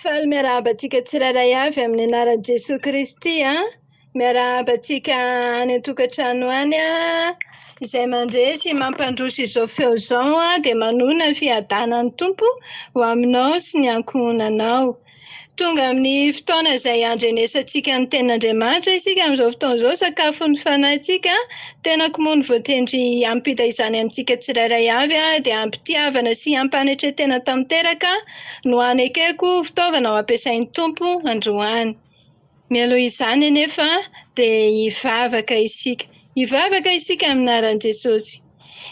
Faly miarahaba antsika tsirairay avy amin'ny anaran'i Jesoa Kristy an! Miarahaba antsika any an-tokantrano any an! Izay mandresy mampandroso izao feo izao an, dia manoana ny fiadanan'ny Tompo ho aminao sy ny ankohonanao. Tonga amin'ny fotoana izay andrenesantsika ny tenin'Andriamanitra isika amin'izao fotoana izao, sakafon'ny fanahintsika. Tenako moa no voatendry hampita izany amintsika tsirairay avy dia am-pitiavana sy am-panetren-tena tanteraka no hanekeko ho fitaovana ho ampiasain'ny Tompo androany. Mialoha izany anefa dia hivavaka isika. Hivavaka isika amin'ny anaran'i Jesosy.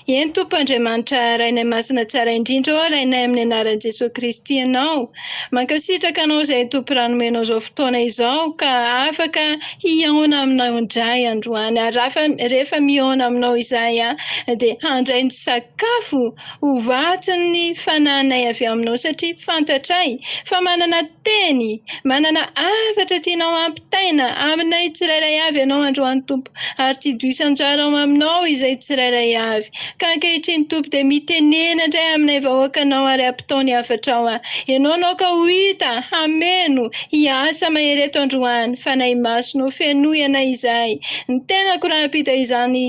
Eny Tompo Andriamanitra Rainay Masina Tsara Indrindra ô Rainay amin'ny Anaran'i Jesoa Kristy Ianao Mankasitraka Anao izay Tompo raha nomenao izao fotoana izao ka afaka hihaona aminao indray androany ary rafa rehefa mihaona aminao izahay a dia handray ny sakafo ho vatsin'ny Fananay avy aminao satria fantatray fa manana Teny, Manana hafatra tianao hampitaina aminay tsirairay avy ianao androany Tompo, ary tsy hidio isan-jara ao aminao izay tsirairay avy. Ka ankehitriny Tompo dia mitenena indray aminay vahoakanao ary ampitao ny hafatrao an. Ianao no aoka ho hita, hameno, hiasa mahery eto androany, Fanahy Masina o fenoy anay izay, ny tenako rahampitaiza ny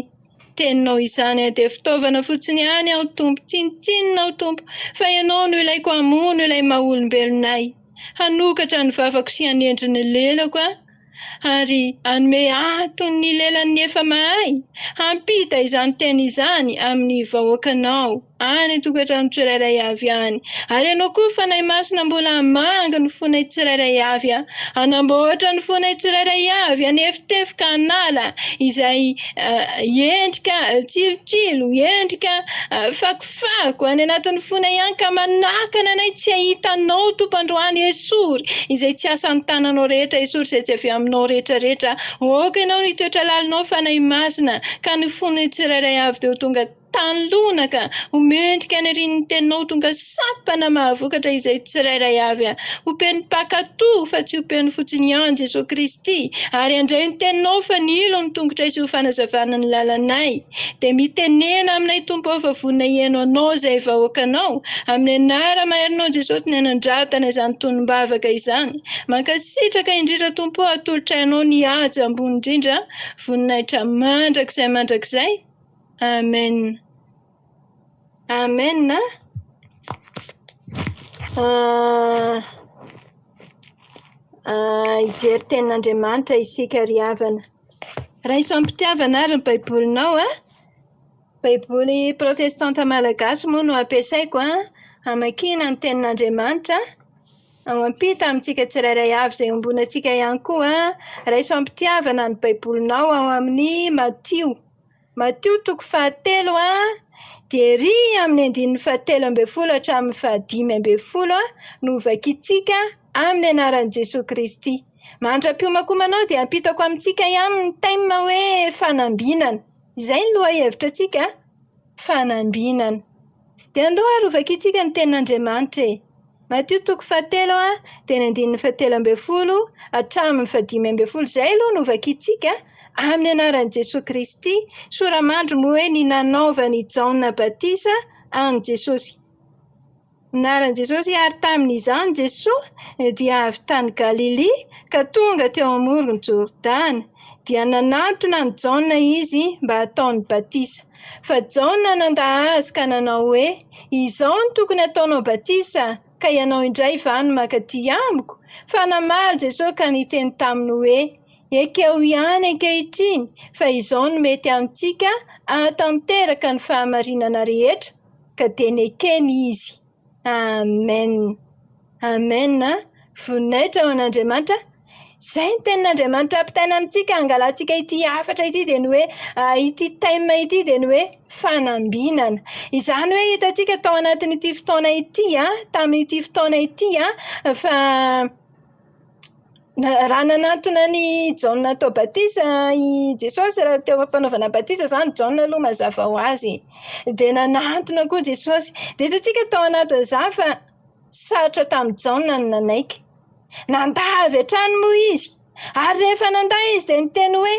Teninao izany eh, dia fitaovana fotsiny ihany aho Tompo, tsinontsinona aho Tompo, fa Ianao no ilaiko hamono ilay maha-olombelonay, hanokatra ny vavako sy hanendry ny lelako aho, ary hanome ahy toy ny lelan'ny efa mahay, hampita izany teny izany amin'ny vahoakanao. Any tokantrano tsirairay avy any. Ary ianao koa Fanahy Masina mbola hamangy ny fonay tsirairay avy a. Hanamboatra ny fonay tsirairay avy hanefitefoka hanala izay endrika tsilotsilo, endrika fakofako any anatin'ny fonay any ka manakana anay tsy hahita Anao Tompo androany esory izay tsy asan'ny tananao rehetra esory izay tsy avy aminao retraretra aoka ianao ny toetra lalinao Fanahy Masina ka ny fonay tsirairay avy dia ho tonga Tany lona ka! Ho mendrika any ary ny teninao tonga sampana mahavokatra izay tsirairay avy a! Ompian'ny mpankatò fa tsy ompian'ny fotsiny ihany Jesoa Kristy ary handray ny teninao fa nilo ny tongotray sy ho fanazavana ny lalanay dia mitenena aminay Tompo ao fa vonona hihaino Anao izay vahoakanao amin'ny anara maherinao Jesosy ny hanandratana izany tonom-bavaka izany mankasitraka indrindra Tompo atolotra Anao ny haja ambony indrindra voninahitra mandrakizay mandrakizay Amen Amen a Hijery tenin'Andriamanitra isika ry havana. Raiso am-pitiavana ary ny Baibolinao a! Baiboly protestanta malagasy moa no ampiasaiko an, hamakiana ny tenin'Andriamanitra an, ampita amintsika tsirairay avy izay iombonantsika ihany koa an, raiso am-pitiavana ny Baibolinao ao amin'ny Matio. Matio toko fahatelo a dia ery amin'ny andininy fahatelo ambin'ny folo hatramin'ny fahadimy ambin'ny folo no hovakintsika amin'ny anaran'i Jesoa Kristy. Mandra-piomankomanao dia hampitako amintsika ihany ny thème hoe fanambinana. Izay ny lohahevitra antsika a! Fanambinana. Dia andeho harovakintsika ny tenin'Andriamanitra e! Matio toko fahatelo dia ny andininy fahatelo ambin'ny folo hatramin'ny fahadimy ambin'ny folo. Izay aloha no hovakintsika an! Amin'ny anaran'i Jesoa Kristy. Soramandry moa hoe ny nanaovan'i Jaona batisa an'i Jesosy. Naran'i Jesosy ary tamin'izany Jesoa dia avy tany Galilia ka tonga teo amoron'i Jordana. Dia nanatona an'i Jaona izy mba hataony batisa. Fa Jaona nandà azy ka nanao hoe, Izao no tokony hataonao batisa, ka ianao indray va no maka aty amiko? Fa namaly Jesosy ka niteny taminy hoe, Ekeo ihany ankehitriny fa izao no mety amintsika hahatanteraka ny fahamarinana rehetra, ka dia nekeny izy. Amen Amen a! Voninahitra ho an'Andriamanitra. Izay ny tenin'Andriamanitra ampitaina amintsika hangalantsika ity hafatra ity dia ny hoe ity thème ity dia ny hoe fanambinana. Izany hoe hitantsika tao anatin'ity fotoana ity tamin'ity fotoana ity fa Raha nanantona an'i Jaona hatao batisa i Jesosy raha teo am-panaovana batisa izany Jaona aloha mazava ho azy e. Dia nanantona koa Jesosy. Dia hitantsika tao anatin'izany fa sarotra tamin'i Jaona ny nanaiky. Nandà avy hatrany moa izy, ary rehefa nandà izy dia niteny hoe.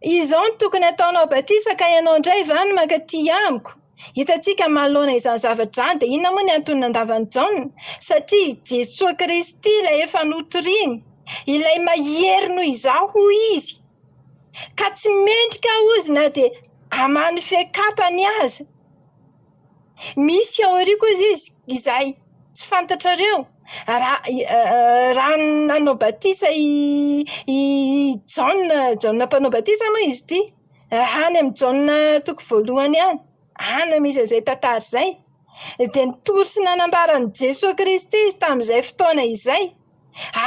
Izao no tokony hataonao batisa ka ianao indray va no maka tia amiko? Hitantsika manoloana izany zavatra izany dia inona moa ny antony nandavan'i Jaona? Satria i Jesoa Kristy ilay efa notoriany, ilay mahery noho izaho hoy izy, ka tsy mendrika aho hozy na dia hamano fe kapany aza. Misy ao aoriako hozy izy izay tsy fantatrareo, raha raha nanao batisa i i Jaona Jaona mpanao batisa moa izy ity, raha any amin'ny Jaona toko voalohany any, any no misy an'izay tantara izay, dia nitory sy nanambara an'i Jesoa Kristy izy tamin'izay fotoana izay,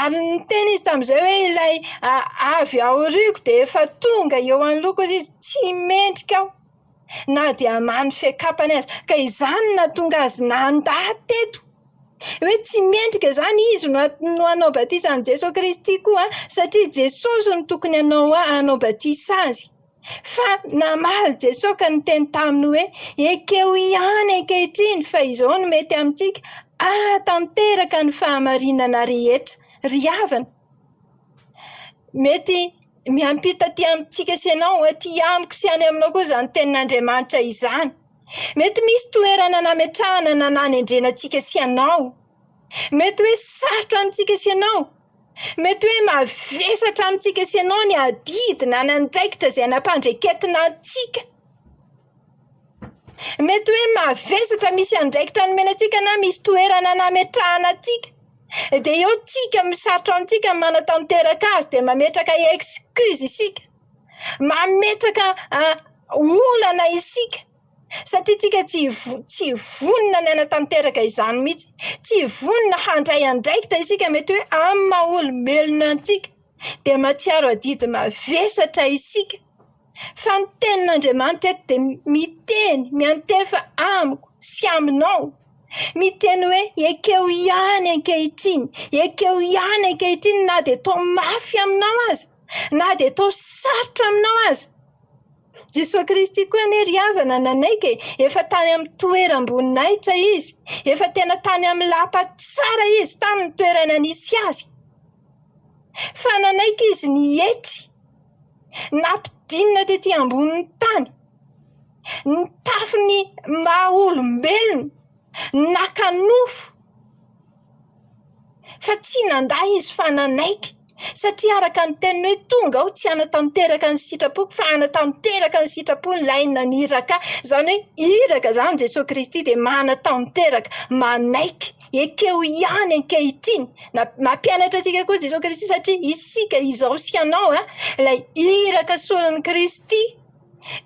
ary niteny izy tamin'izay hoe ilay avy aoriako dia efa tonga eo anoloako hozy izy, tsy mendrika aho. na dia mano fiakapany aza, ka izany no nahatonga azy nandà teto. Hoe tsy mendrika izany izy no no hanao batisa an'i Jesoa Kristy koa satria Jesosy no tokony hanao a- hanao batisa azy. Fa namaly Jesoa ka niteny taminy hoe, ekeo ihany ankehitriny fa izao no mety amintsika, ahatanteraka ny fahamarinana rehetra. Ry havana! Mety miampita aty amintsika sy ianao, aty amiko sy any aminao koa izany tenin'Andriamanitra izany. Mety misy toerana nametrahana na nanendrena antsika sy ianao. Mety hoe sarotra amintsika sy ianao. Mety hoe mavesatra amintsika sy ianao ny adidy na ny andraikitra izay nampandraiketina antsika. Mety hoe mavesatra misy andraikitra nomena antsika na misy toerana nametrahana antsika dia eo tsika misarotra amintsika ny manatanteraka azy dia mametraka excuse isika, mametraka olana isika satria tsika tsy vo- tsy vonona ny hanatanteraka izany mihitsy, tsy vonona handray andraikitra isika mety hoe amin'ny maha olombelona antsika dia mahatsiaro adidy mavesatra isika. Fa ny tenin'Andriamanitra eto dia miteny, miantefa amiko sy aminao. Miteny hoe, ekeo ihany ankehitriny, ekeo ihany ankehitriny na dia toa mafy aminao aza, na dia toa sarotra aminao aza. Jesoa Kristy koa anie ry havana nanaiky e, efa tany amin'ny toeram-boninahitra Izy, efa tena tany amin'ny lapa tsara Izy tany ny toerana nisy Azy. Fa nanaiky Izy ny hietry. nampidinina tety ambonin'ny tany, ny tafin'ny maha olombelona, naka nofo fa tsy nandà izy fa nanaiky satria araka ny teniny hoe tonga aho tsy hanatanteraka ny sitrapoko fa hanatanteraka ny sitrapon'ilay naniraka ahy, izany hoe iraka izany Jesoa Kristy dia manatanteraka, manaiky. ekeo ihany ankehitriny. Nampianatra antsika koa Jesoa Kristy satria isika, izaho sy ianao, ilay iraka solon'i Kristy.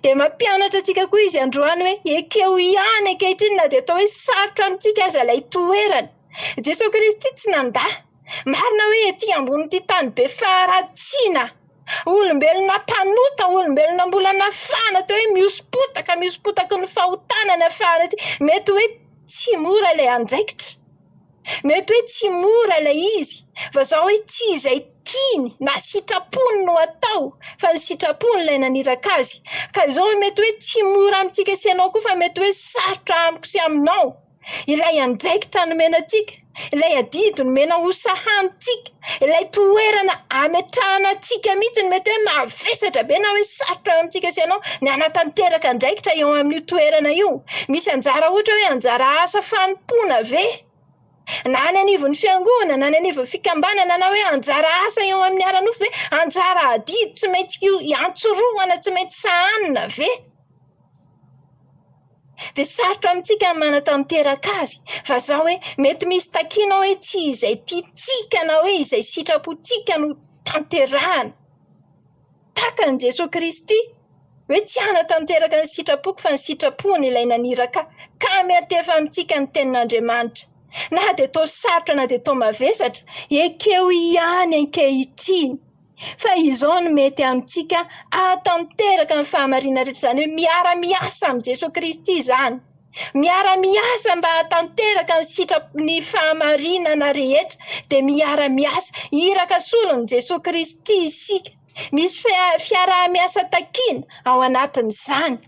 Dia mampianatra antsika koa Izy androany hoe ekeo ihany ankehitriny na dia atao hoe sarotra amintsika aza ilay toerana. Jesoa Kristy tsy nandà. Marina hoe ety ambonin'ity tany be faharatsiana, Olombelona mpanota, olombelona mbola nafahana teo hoe mihosom-potaka, mihosom-potaky ny fahotana nafahana ity. Mety hoe tsy mora ilay andraikitra, mety hoe tsy mora ilay izy, vazaha hoe tsy izay tiany na sitrapony no atao fa ny sitrapony ilay naniraka azy. Ka izao mety hoe tsy mora amintsika sy ianao koa fa mety hoe sarotra amiko sy aminao. ilay andraikitra nomena antsika, ilay adidy nomena ho sahanintsika, ilay toerana ametrahana antsika mihitsy no mety hoe mavesatra be na hoe sarotra eo amintsika sy ianao ny hanatanteraka andraikitra eo amin'io toerana io. Misy anjara ohatra hoe anjara asa fanompoana ve? Na any anivon'ny fiangonana, na any anivon'ny fikambanana, na hoe anjara asa eo amin'ny ara-nofo ve? Anjara adidy tsy maintsy iantsorohana, tsy maintsy sahanina ve? dia sarotra amintsika ny manatanteraka azy. Vazaha hoe mety misy takiana hoe tsy izay tiantsika na hoe izay sitrapontsika no tanterahana. Tahaka an'i Jesoa Kristy hoe tsy hanatanteraka ny sitrapoko fa ny sitrapony ilay naniraka ka miantefa amintsika ny tenin'Andriamanitra. Na dia toa sarotra na dia toa mavesatra, ekeo ihany ankehitriny. fa izao no mety amintsika hahatanteraka ny fahamarinana rehetra, izany hoe miara-miasa amin'i Jesoa Kristy izany, miara-miasa mba hahatanteraka ny sitrapo, ny fahamarinana rehetra dia miara-miasa, iraka solon'i Jesoa Kristy isika, misy fia- fiaraha-miasa takiana ao anatin'izany.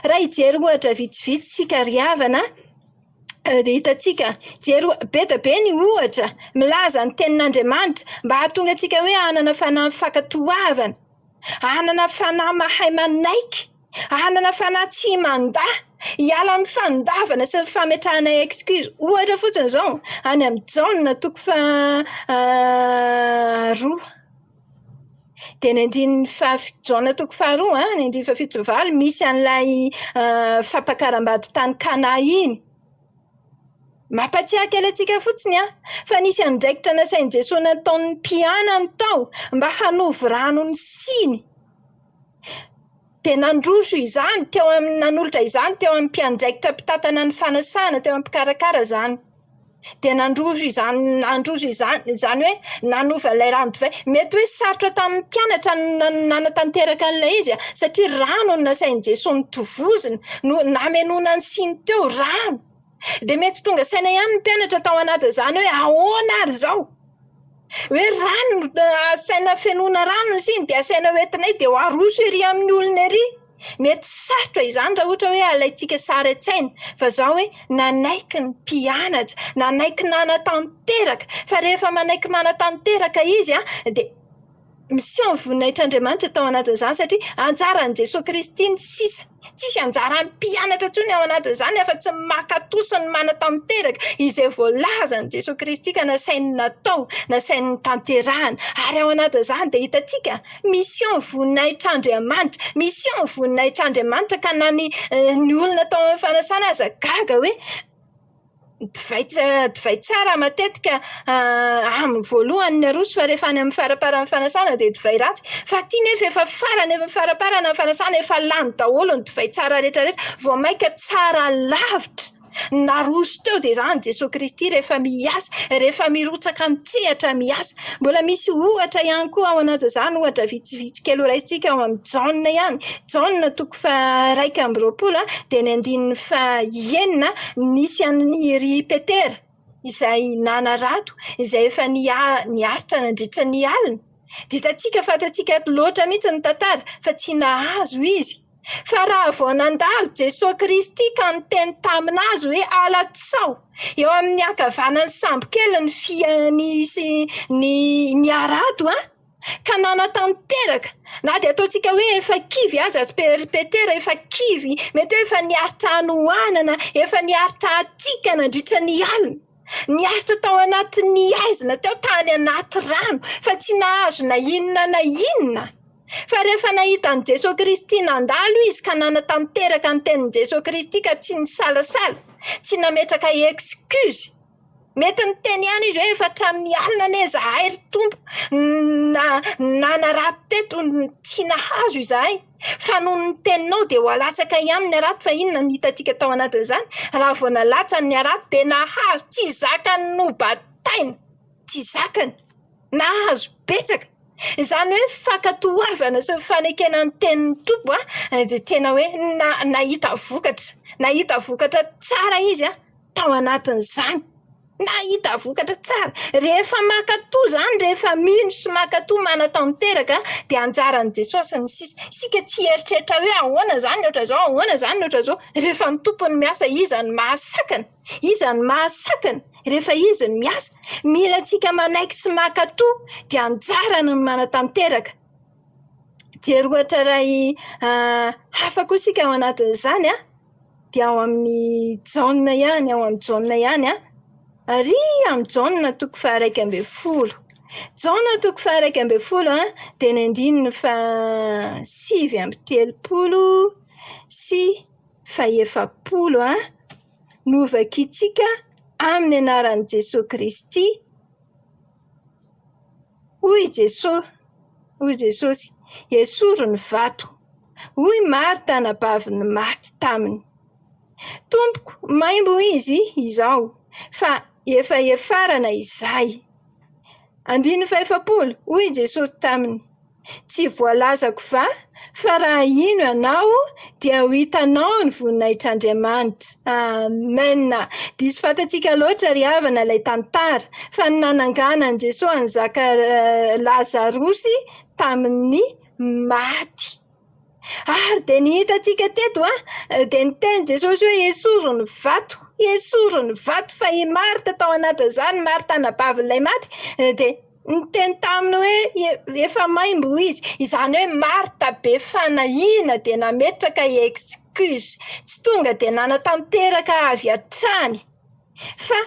Raha hijery ohatra vitsivitsy isika ry havana an. Ry hitantsika, jery be dia be ny ohatra milaza ny tenin'Andriamanitra mba hahatonga antsika hoe hanana fanahy mifankatoavana, hanana fanahy mahay manaiky, hanana fanahy tsy mandà, hiala amin'ny fandavana sy ny fametrahana excuse. Ohatra fotsiny izao, any amin'ny Jaona toko faharoa. Dia ny andininy faha- Jaona toko faharoa an, ny andininy fahafito sy fahavalo misy an'ilay fampakaram-bady tany Kana iny. Mampahatsiahy kely antsika fotsiny an, fa nisy andraikitra nasain'i Jesoa nataon'ny mpianany tao mba hanovo rano ny siny. dia nandroso izany teo amin'ny nanolotra izany teo amin'ny mpiandraikitra mpitantana ny fanasana, teo amin'ny mpikarakara izany. Dia nandroso izany, nandroso izany, izany hoe nanova ilay rano divay. Mety hoe sarotra tamin'ny mpianatra ny nanatanteraka an'ilay izy, satria rano no nasain'i Jesoa notovozina, no namenoana ny siny teo, rano! Dia mety tsy tonga saina ihany ny mpianatra tao anatin'izany hoe ahoana ary izao? Hoe rano no asaina fenoina rano ny siny dia asaina ho entinay dia ho aroso ery amin'ny olona ery. Mety sarotra izany raha ohatra hoe alaintsika sary an-tsaina. Fa izao hoe nanaiky ny mpianatra, nanaiky nanatanteraka. Fa rehefa manaiky manatanteraka izy dia. Miseho ny voninahitr'Andriamanitra tao anatin'izany satria anjaran'i Jesoa Kristy ny sisa. Tsisy anjaran'ny mpianatra intsony ao anatin'izany afa-tsy ny mankatò sy ny manatanteraka izay voalazan'i Jesoa Kristy ka nasainy natao, nasainy notanterahina. Ary ao anatin'izany dia hitantsika, miseho ny voninahitr'Andriamanitra. Miseho ny voninahitr'Andriamanitra ka na ny olona tao amin'ny fanasana aza gaga hoe Divay divay tsara matetika amin'ny voalohany ny aroso fa rehefa any amin'ny faramparan'ny fanasana dia divay ratsy. Fa aty nefa efa farany efa faraparana ny fanasana, efa lany daholo ny divay tsara rehetrarehetra. Vao mainka tsara lavitra ny naroso teo dia izany Jesoa Kristy rehefa miasa, rehefa mirotsaka an-tsehatra miasa. Mbola misy ohatra ihany koa ao anatin'izany, ohatra vitsivitsy kely ho raisintsika ao amin'ny Jaona ihany. Jaona toko faha-. faha-iraika amby roapolo an, dia ny andininy faha-enina an, nisy an'i ry Petera izay nanarato, izay efa niha- niaritra nandritra ny alina. Dia hitantsika, fantatsika loatra mihitsy ny tantara fa tsy nahazo izy. Fa raha vao nandalo Jesoa Kristy ka niteny tamin'azy hoe ala tsaho! Eo amin'ny ankavanan'ny sambokely ny fia- nisy ny- ny harato an! ka nanatanteraka, na dia ataontsika hoe efa kivy aza sy peripetera, efa kivy, mety hoe efa nihary tra hanohanana, efa nihary tra hatsiaka nandritra ny alina, niaritra tao anatin'ny haizina teo tany anaty rano, fa tsy nahazo na inona na inona. Fa rehefa nahita an'i Jesoa Kristy nandalo izy ka nanatanteraka ny tenin'i Jesoa Kristy ka tsy nisalasala, tsy nametraka excuse, Mety niteny ihany izy hoe efa hatramin'ny alina anie izahay ry Tompo na nanarato teto no tsy nahazo izahay, fa noho ny teninao dia ho alatsaka ihany ny harato, fa inona no hitantsika tao anatin'izany? Raha vao nalatsany ny harato dia nahazo, tsy zakany nobataina, tsy zakany, nahazo betsaka. Izany hoe fankatoavana sy ny fanekena ny tenin'ny Tompo dia tena hoe na- nahita vokatra, nahita vokatra tsara izy an! tao anatin'izany. Nahita vokatra tsara. Rehefa mankatò izany, rehefa mino sy mankatò, manatanteraka, dia anjaran'i Jesosy ny sisa. Isika tsy hieritreritra hoe ahoana izany ny ohatran'izao, ahoana izany ny ohatran'izao. Rehefa ny Tompo no miasa, iza no mahasakana? Iza no mahasakana rehefa izy no miasa? Mila antsika manaiky sy mankatò, dia anjarany ny manatanteraka. Jery ohatra iray hafa koa isika ao anatin'izany dia ao amin'ny Jaona ihany, ao amin'ny Jaona ihany ary amin'ny Jaona toko faha-iraika ambin'ny folo. Jaona toko faha-iraika ambin'ny folo dia ny andininy faha- sivy amby telopolo sy fahefapolo no hovakintsika amin'ny anaran'i Jesoa Kristy. Hoy i Jesoa, hoy i Jesosy, Esory ny vato. Hoy i Marta anabavin'ny maty taminy, Tompoko, maimbo izy izao, fa efa hiafarana izahay. Andininy fahefapolo, Hoy i Jesosy taminy, Tsy voalazako va Fa raha hino ianao dia ho hitanao ny voninahitr'Andriamanitra. Amen! Diso fantatsika loatra ry havana ilay tantara, fa ny nananganan'i Jesoa an'i Zaka Lazarosy tamin'ny maty. Ary dia ny hitantsika teto an, dia niteny Jesosy hoe esory ny vato, esory ny vato, fa i Marta tao anatin'izany, Marta anabavin'ilay maty, dia Niteny taminy hoe, Efa maimbo izy. Izany hoe Marta be fanahiana dia nametraka excuse. Tsy tonga dia nanatanteraka avy hatrany fa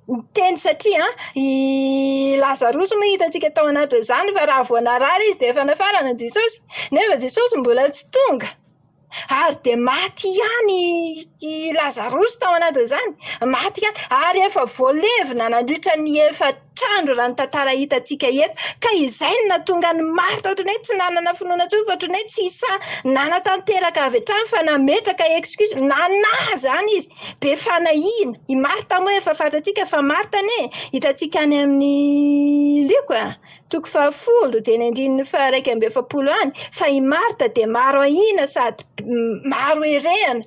niteny satria i Lazarosy moa hitantsika tao anatin'izany fa raha vao narary izy dia efa nafarana an'i Jesosy. Nefa Jesosy mbola tsy tonga. ary dia maty ihany i Lazarosy tao anatin'izany, maty ihany, ary efa voalevina nandritra ny efatra andro raha ny tantara hitantsika eto, ka izay no nahatonga ny maro tao ohatran'ny hoe tsy nanana finoana intsony fa ohatran'ny hoe tsy sahy nanatanteraka avy hatrany fa nametraka excuse, nanahy izany izy, be fanahiana, i Marta moa efa fantatsika fa Marta anie hitantsika any amin'ny loko e! Toko fahafolo dia ny andininy faha-iraika amby efapolo any, fa i Marta dia maro ahiana sady maro herehana.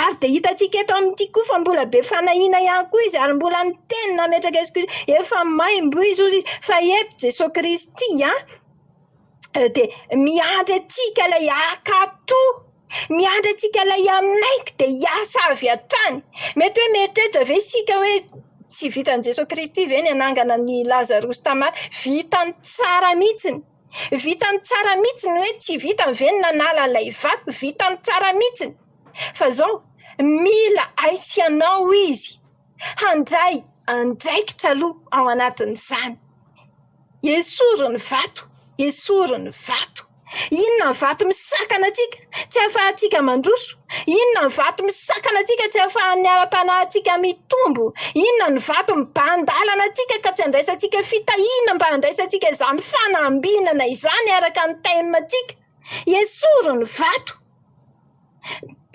Ary dia hitantsika eto amin'ity koa fa mbola be fanahiana ihany koa izy ary mbola miteny nametraka azy koa izy hoe efa maimboizy hozy izy. Fa eto Jesoa Kristy dia miandry antsika ilay haka toa. Miandry antsika ilay aminaiky dia hiasa avy hatrany. Mety hoe mieritreritra ve isika hoe tsy vitan'i Jesoa Kristy ve ny hanangana an'i Lazarosy tamin'ny maty? Vitany tsara mihitsiny. Vitany tsara mihitsiny hoe tsy vitany ve ny nanala ilay vato? Vitany tsara mihitsiny. Fa izao, mila ahy sy ianao izy handray andraikitra aloha ao anatin'izany. Esory ny vato! Esory ny vato! Inona ny vato misakana antsika tsy ahafahantsika mandroso? Inona ny vato misakana antsika tsy ahafahan'ny ara-panahintsika mitombo? Inona ny vato mibahan-dalana antsika ka tsy andraisantsika fitahiana mba handraisantsika izany fanambinana izany araka ny time-ntsika? Esory ny vato!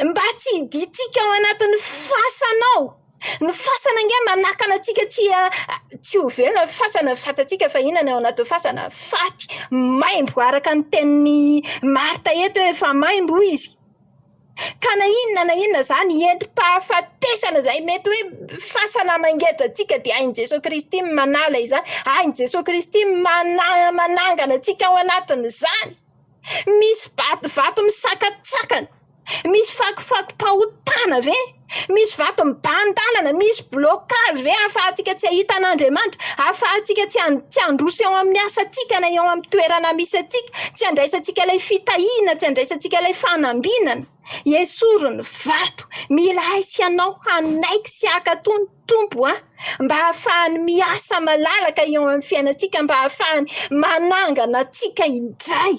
mba tsy hidiantsika ao anatin'ny fasana ao. Ny fasana ange manakana antsika tsy tsy ho velona ny fasana, ny vatantsika efa inona ny ao anatin'ny fasana? Faty, maimbo araka ny tenin'i Marta eto hoe efa maimbo hoy izy. Ka na inona na inona izany hetim-pahafatesana izay mety hoe fasana mangeja antsika dia hain'i Jesoa Kristy ny manala izany, hain'i Jesoa Kristy ny mana- manangana antsika ao anatin'izany. Misy vatovato misakatsakana, misy fakofako-pahotana ve? Misy vato mibahan-dalana, misy blocage ve ahafahantsika tsy hahita an'Andriamanitra, ahafahantsika tsy tsy handroso eo amin'ny asantsika na eo amin'ny toerana misy antsika, tsy handraisantsika ilay fitahiana, tsy handraisantsika ilay fanambinana? Esory ny vato, mila ahy sy ianao hanaiky sy haka tony. Tompo an! mba hahafahany miasa malalaka eo amin'ny fiainantsika mba hahafahany manangana antsika indray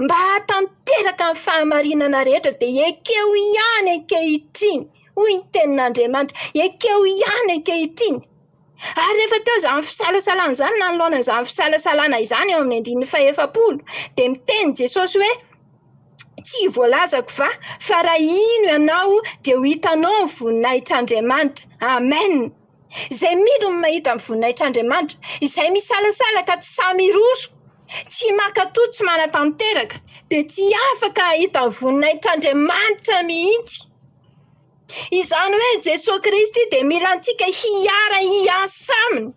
mba hahatanteraka ny fahamarinana rehetra dia ekeo ihany ankehitriny hoy ny tenin'Andriamanitra ekeo ihany ankehitriny ary rehefa teo izany fisalasalana izany nanoloana izany fisalasalana izany eo amin'ny andininy fahefapolo dia miteny Jesosy hoe Tsy voalazako va fa raha hino ianao dia ho hitanao ny voninahitr'Andriamanitra. Amen! Izay mino no mahita ny voninahitr'Andriamanitra. Izay misalasala ka tsy sahy miroro, tsy mankatò, tsy manatanteraka dia tsy afaka hahita ny voninahitr'Andriamanitra mihitsy. Izany hoe Jesoa Kristy dia mila antsika hiara-hiasa Aminy.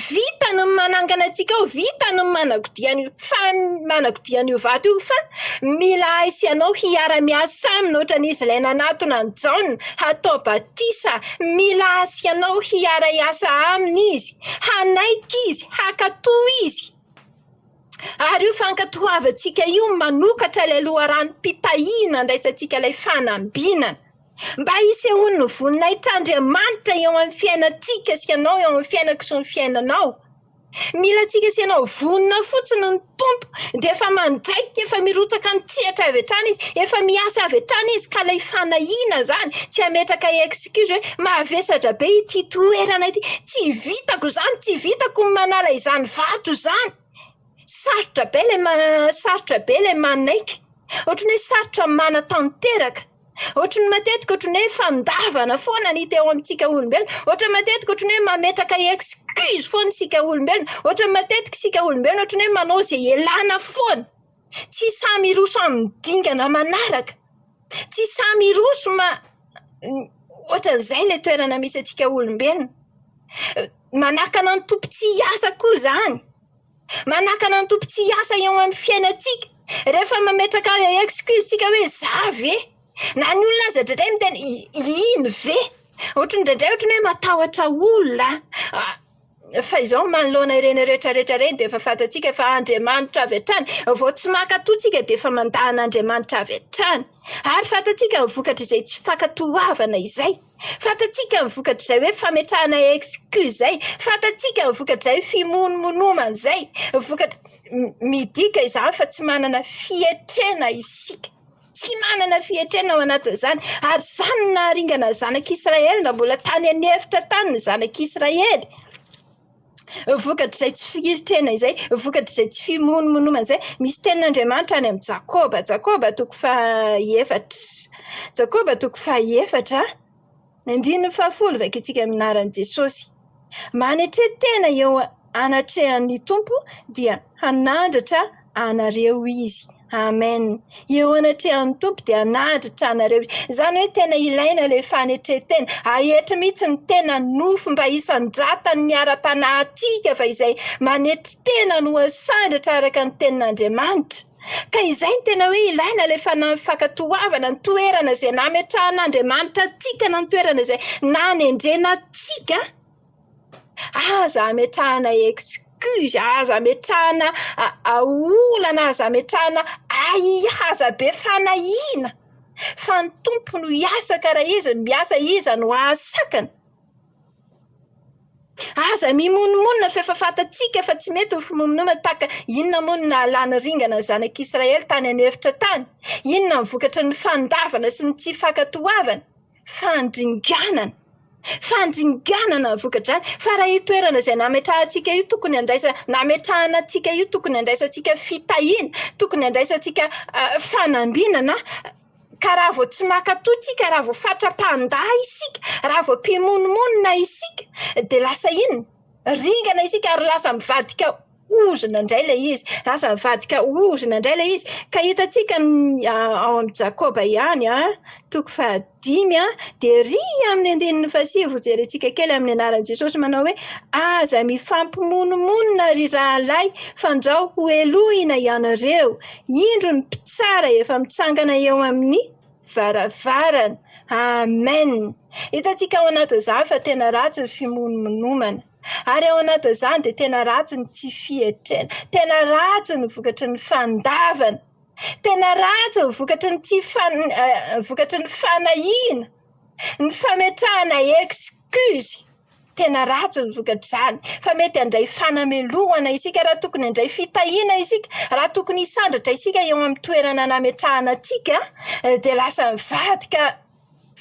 Vitany ny manangana antsika ao, vitany ny manakodia an'io fan- manakodia an'io vato io fa mila ahy sy ianao hiara-miasa aminy ohatran'izy ilay nanatona an'i Jaona hatao batisa. Mila ahy sy ianao hiara-hiasa aminy izy, hanaiky izy, hankatò izy. Ary io fankatoavantsika io manokatra ilay loharanom-pitahiana handraisantsika ilay fanambinana. Mba hisehoany ny voninahitr'Andriamanitra eo amin'ny fiainantsika sy ianao eo amin'ny fiainako sy ny fiainanao. Mila antsika sy ianao vonona fotsiny ny Tompo dia efa mandraika, efa mirotsaka an-tsehatra avy hatrany Izy, efa miasa avy hatrany Izy ka ilay fanahiana izany tsy hametraka excuse hoe mavesatra be ity toerana ity, tsy vitako izany, tsy vitako ny manala izany vato izany. Sarotra be ilay ma- sarotra be ilay manaiky. Ohatran'ny hoe sarotra manatanteraka. Ohatry ny matetika ohatry ny hoe fandavana foana ny hita eo amintsika olombelona. Ohatry ny matetika ohatry ny hoe mametraka excuse foana isika olombelona. Ohatry ny matetika isika olombelona ohatry ny hoe manao izay ialana foana. Tsy samy hiroso amin'ny dingana manaraka. Tsy samy hiroso ma- ohatran'izay ilay toerana misy antsika olombelona. Manakana ny Tompo tsy hiasa koa izany. Manakana ny Tompo tsy hiasa eo amin'ny fiainantsika. Rehefa mametraka excuse tsika hoe za ve? Na ny olona aza indraindray miteny iny ve? Ohatry ny indraindray ohatry ny hoe matahotra olona an. Fa izao manoloana ireny rehetra rehetra ireny dia efa fantatsika fa Andriamanitra avy hatrany. Vao tsy mankatò tsika dia efa mandà an'Andriamanitra avy hatrany. Ary fantatsika ny vokatr'izay tsy fankatoavana izay. Fantatsika ny vokatr'izay hoe fametrahana exclu izay. Fantatsika ny vokatr'izay fimonomonomana izay. Vokatra, midika izany fa tsy manana fietrena isika. Tsy manana fietrena ao anatin'izany. Ary izany no naharingana ny zanak'Israely na mbola tany an'efitra tany ny zanak'Israely. vokatr'izay tsy fihiritena izay, vokatr'izay tsy fimonomonomana izay. Misy tenin'Andriamanitra any amin'i Jakoba, Jakoba toko fahaefatra, Jakoba toko fahaefatra andininy fahafolo, vakintsika amin'ny anaran'i Jesosy. Manetre-tena eo anatrehan'ny Tompo dia hanandratra anareo izy. Amen. Eo anatrehan'ny Tompo dia hanadratra anareo izy. Izany hoe tena ilaina ilay fanetren-tena. Ahety mihitsy ny tena nofo mba hisandratan'ny ara-panahy antsika fa izay manetry tena no asandratra araka ny tenin'Andriamanitra. Ka izay no tena hoe ilaina ilay fanahy fankatoavana ny toerana izay nametrahan'Andriamanitra antsika na ny toerana izay nanendrena antsika. Aza ametrahana excuse, aza ametrahana olana, aza ametrahana ahiahaza be fanahiana fa ny Tompo no hiasa ka raha Izy no miasa Iza no hahasakana? Aza mimonomonona fa efa fantatsika fa tsy mety ny fimonomonona tahaka inona moa no nahalany ringana ny zanak'i Israely tany an'efitra tany? Inona ny vokatry ny fandavana sy ny tsy fankatoavana? fandringanana, fandringanana ny vokadrany. Fa raha io toerana izay nametrahantsika io tokony handraisa, nametrahana antsika io tokony handraisantsika fitahiana, tokony handraisantsika fanambinana, ka raha vao tsy mankatò isika, raha vao fatra-pahanda isika, raha vao mpimonomonona isika, dia lasa inona? Ringana isika ary lasa mivadika ao. ozona indray ilay izy, lasa nivadika ozona indray ilay izy. Ka hitantsika ao amin'i Jakoba ihany toko fahadimy dia ery amin'ny andininy fahasivy hojerentsika kely amin'ny anaran'i Jesosy manao hoe, aza mifampimonomonona ry rahalahy fandrao hohelohina ianareo, indro ny mpitsara efa mitsangana eo amin'ny varavarana. Amen! Hitantsika ao anatin'izany fa tena ratsy ny fimonomonomana. Ary ao anatin'izany dia tena ratsy ny tsy fietrena, tena ratsy ny vokatry ny fandavana, tena ratsy ny vokatry ny tsy fan- eh, vokatry ny fanahiana, ny fametrahana excuse. Tena ratsy ny vokatr'izany fa mety handray fanamelohana isika raha tokony handray fitahiana isika, raha tokony hisandratra isika eo amin'ny toerana nametrahana antsika dia lasa mivadika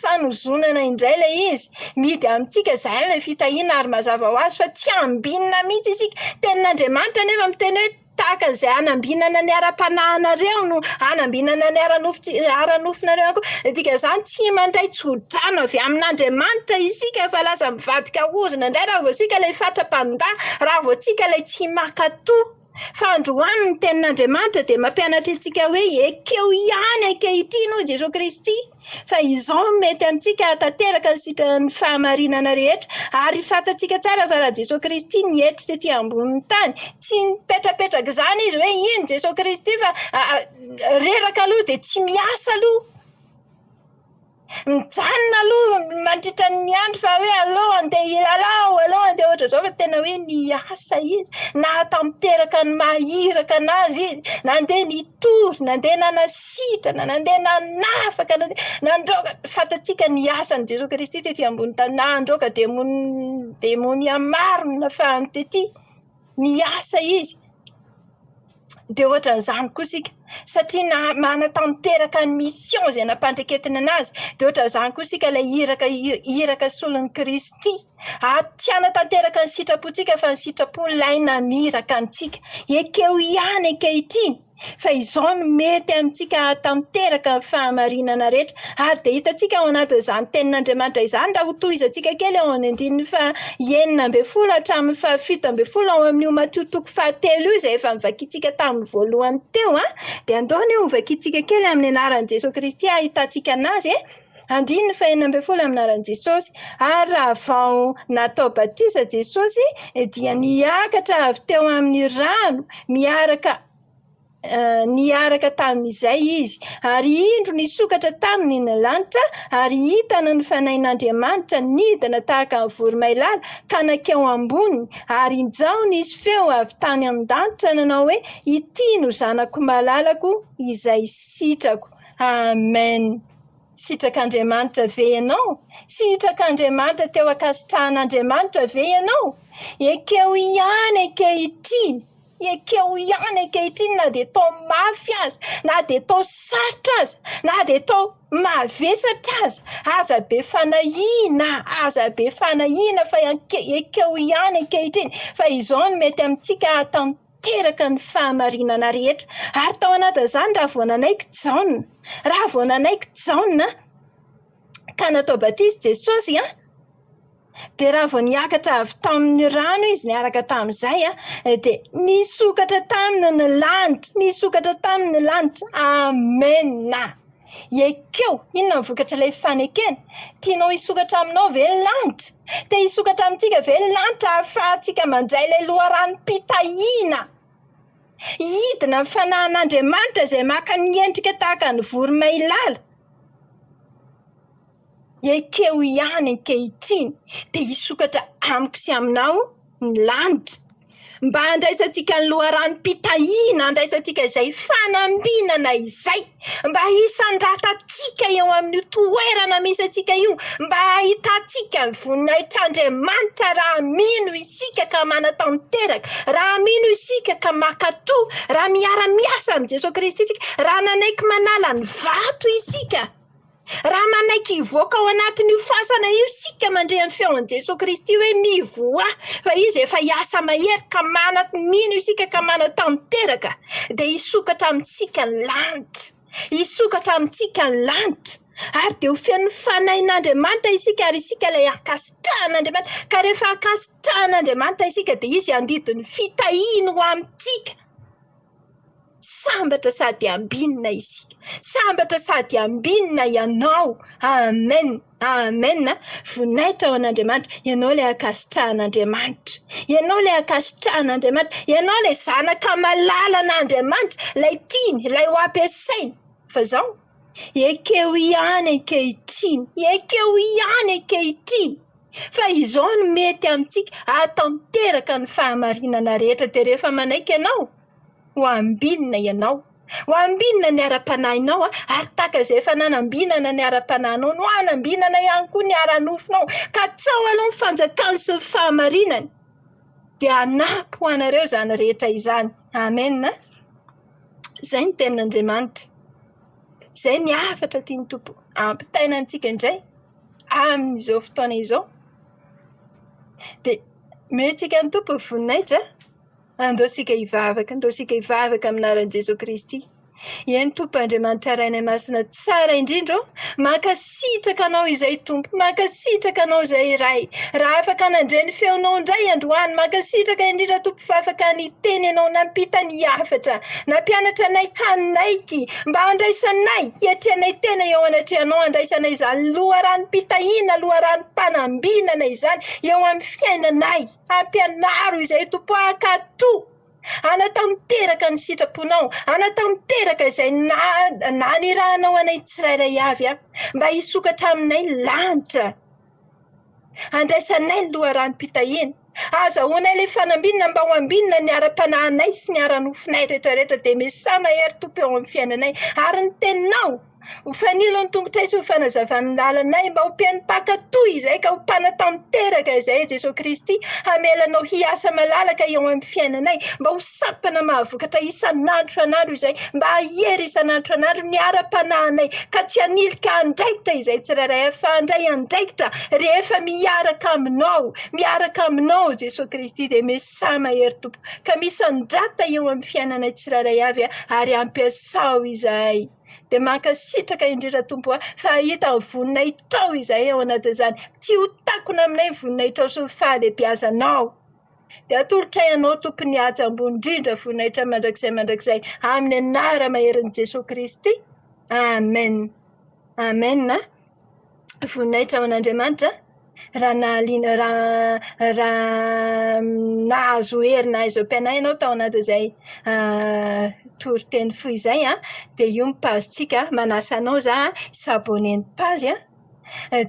fanozonana indray ilay izy. Mihidy amintsika izany ilay fitahiana ary mazava ho azy fa tsy hambinina mihitsy isika. Ny tenin'Andriamanitra anefa miteny hoe tahaka izay hanambinana ny ara-panahinareo no hanambinana ny ara-nofon-tsi- ara-nofonareo ihany koa. Ny dikan'izany tsy mandray tsodrano avy amin'Andriamanitra isika fa lasa mivadika ozona indray raha vao isika ilay fatra-pandaha, raha vao isika ilay tsy mankatò. Fa androany ny tenin'Andriamanitra dia mampianatra antsika hoe ekeo ihany ankehitriny hoy Jesoa Kristy fa izao no mety amintsika hahatanteraka ny sitran'ny fahamarinana rehetra ary fantatsika tsara fa raha Jesoa Kristy nietry tety ambonin'ny tany tsy nipetrapetrak'izany izy hoe iny Jesoa Kristy fa reraka aloha dia tsy miasa aloha mijanona aloha mandritra ny andro fa hoe aleo andeha hilalao, aleo andeha ohatr'izao fa tena hoe niasa izy, nahatanteraka ny maha iraka anazy izy, nandeha nitory, nandeha nanasitrana, nandeha nanafaka, nandeha nandroaka, fantatsika ny asan'i Jesoa Kristy tety ambony tany, nandroaka demon- demonia maro nafahany tety. miasa izy dia ohatran'izany koa isika satria na- manatanteraka ny mission izay nampandraketiny anazy dia ohatran'izany koa isika ilay iraka i- iraka solon'i Kristy. Ary tsy hanatanteraka ny sitrapontsika fa ny sitrapo ilay naniraka antsika. Ekeo ihany ankehitriny. fa izao no mety amintsika hahatanteraka ny fahamarinana rehetra. Ary dia hitantsika ao anatin'izany Tenin'Andriamanitra izany, raha hotohizantsika kely eo amin'ny andininy fahenina ambin'ny folo hatramin'ny fahafito ambin'ny folo ao amin'io Matio toko fahatelo io, izay efa novakintsika tamin'ny voalohany teo, dia andao anie hovakintsika kely amin'ny anaran'i Jesoa Kristy hahitantsika anazy e. Andininy fahenina ambin'ny folo Amin'ny anaran'i Jesosy. Ary raha vao natao batisa Jesosy dia niakatra avy teo amin'ny rano miaraka niaraka tamin'izay Izy. Ary indro nisokatra Taminy ny lanitra, ary hitana ny Fanahin'Andriamanitra nidina tahaka ny voromailala ka nankeo amboniny, ary injao nisy feo avy tany an-danitra nanao hoe, Ity no Zanako malalako izay sitrako. Amen. Sitrak'Andriamanitra ve ianao? Sitrak'Andriamanitra teo ankasitrahan'Andriamanitra ve ianao? Ekeo ihany ankehitriny, ekeo ihany ankehitriny na dia tao mafy aza, na dia tao sarotra aza, na dia tao mavesatra aza. Aza be fanahiana, aza be fanahiana fa ekeo ihany ankehitriny fa izao no mety amintsika ataontsika. teraka ny fahamarinana rehetra. Ary tao anatin'izany, raha vao nanaiky Jaona, raha vao nanaiky Jaona ka natao batisa i Jesosy, dia raha vao niakatra avy tamin'ny rano izy niaraka tamin'izay, dia nisokatra taminy ny lanitra, nisokatra taminy ny lanitra. Amena! Ekeo! Inona ny vokatr'ilay fanekena? Tianao hisokatra aminao ve ny lanitra? Te hisokatra amintsika ve ny lanitra hahafahantsika mandray ilay loharanom-pitahiana? Hidina ny fanahin'Andriamanitra izay maka ny endrika tahaka ny voromailala. Ekeo ihany ankehitriny dia hisokatra amiko sy aminao ny lanitra, mba handraisantsika ny loharanom-pitahiana handraisantsika izay fanambinana izay, mba hisandratantsika eo amin'io toerana misy antsika io, mba hahitantsika ny voninahitr'Andriamanitra raha mino isika ka manatanteraka, raha mino isika ka mankatò, raha miara-miasa amin'i Jesoa Kristy isika, raha nanaiky manala ny vato isika. Raha manaiky hivoaka ao anatin'io fasana io isika mandre ny feon'i Jesoa Kristy hoe mivoaha fa Izy efa hiasa mahery ka manat-mino isika ka manatanteraka dia hisokatra amintsika ny lanitra. Hisokatra amintsika ny lanitra. Ary dia ho feno Fanahin'Andriamanitra isika ary isika ilay ankasitrahan'Andriamanitra. Ka rehefa ankasitrahan'Andriamanitra isika dia Izy handidy ny fitahiany ho amintsika. Sambatra sady ambinina isika. Sambatra sady ambinina ianao. Amen! Amen! Voninahitra ho an'Andriamanitra. Ianao ilay ankasitrahan'Andriamanitra. Ianao ilay ankasitrahan'Andriamanitra. Ianao ilay zanaka malalan'Andriamanitra, ilay tiany, ilay ho ampiasainy. Fa izao, ekeo ihany ankehitriny. Ekeo ihany ankehitriny. fa izao no mety amintsika hahatanteraka ny fahamarinana rehetra dia rehefa manaiky Anao, ho ambinina Ianao. Ho ambinina ny ara-panahinao ary tahaka izay efa nanambinana ny ara-panahinao no hanambinana ihany koa ny ara-nofonao. Katsaho aloha ny fanjakany sy ny fahamarinany dia hanampy ho anareo izany rehetra izany. Amena. Izay ny tenin'Andriamanitra. Izay ny hafatra tian'ny Tompo hampitaina antsika indray. amin'izao fotoana izao dia mety hiakan'ny Tompo ny voninahitra an! Andao isika hivavaka, andao isika hivavaka amin'ny anaran'i Jesoa Kristy. Eny Tompo Andriamanitra Ray anay Masina tsara indrindra ô, mankasitraka Anao izay Tompo, mankasitraka Anao izay Ray. Raha afaka nandre ny feonao indray androany, mankasitraka indrindra Tompo fa afaka niteny Ianao, nampita ny hafatra, nampianatra anay hanaiky. Mba handraisanay, hiatrehanay tena eo anatrehanao, handraisanay izany loharanom-pitahiana, loharanom-panambinana izany eo amin'ny fiainanay. Ampianaro izay Tompo ah, ka toa hanatanteraka ny sitraponao, hanatanteraka izay na- nanirahanao anay tsirairay avy aho, mba hisokatra aminay ny lanitra. Andraisanay ny loharanom-pitahiana. Ahazahoanay ilay fanambinina mba ho ambinina ny ara-panahinay sy ny ara-nofonay rehetrarehetra, dia Mesia mahery Tompo eo amin'ny fiainanay. Ary ny Teninao, ho fanilo ny tongotray sy ho fanazavana ny lalanay, mba ho peno mpankatò izay ka ho mpanatanteraka izay i Jesoa Kristy, hamela Anao hiasa malalaka eo amin'ny fiainanay, mba ho sampana mahavokatra isan'andro isan'andro izay, mba hiery isan'andro isan'andro ny ara-panahinay ka tsy hanilika andraikitra izay tsirairay fa handray andraikitra rehefa miaraka Aminao, miaraka Aminao Jesoa Kristy dia Mesia mahery Tompo ka misandrata eo amin'ny fiainanay tsirairay avy ary ampiasao izahay. Dia mankasitraka indrindra Tompo a, fa hahita ny voninahitrao izahay ao anatin'izany, tsy ho takona aminay ny voninahitrao sy ny fahalehibiazanao. Dia atolotray Anao Tompo ny haja ambony indrindra voninahitra mandrakizay mandrakizay amin'ny anaramaherin'i Jesoa Kristy. Amen. Amen a. Voninahitra ho an'Andriamanitra a. Raha nahaliana raha raha nahazo hery nahay izao mpianahy ianao tao anatin'izay toriteny fohy izay an, dia io ny page-tsika. Manasa anao izaho hi-s'abonner ny page an.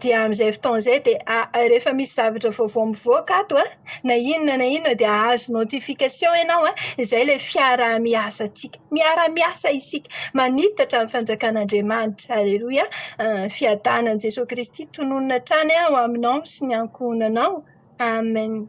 dia amin'izay fotoana izay dia rehefa misy zavatra vaovao mivoaka ato an, na inona na inona dia hahazo notification ianao an, izay ilay fiaraha-miasantsika. Miara-miasa isika, manitatra ny fanjakan'Andriamanitra. Aleloia. Fiadanan'i Jesoa Kristy tononina hatrany ho aminao sy ny ankohonanao. Amen.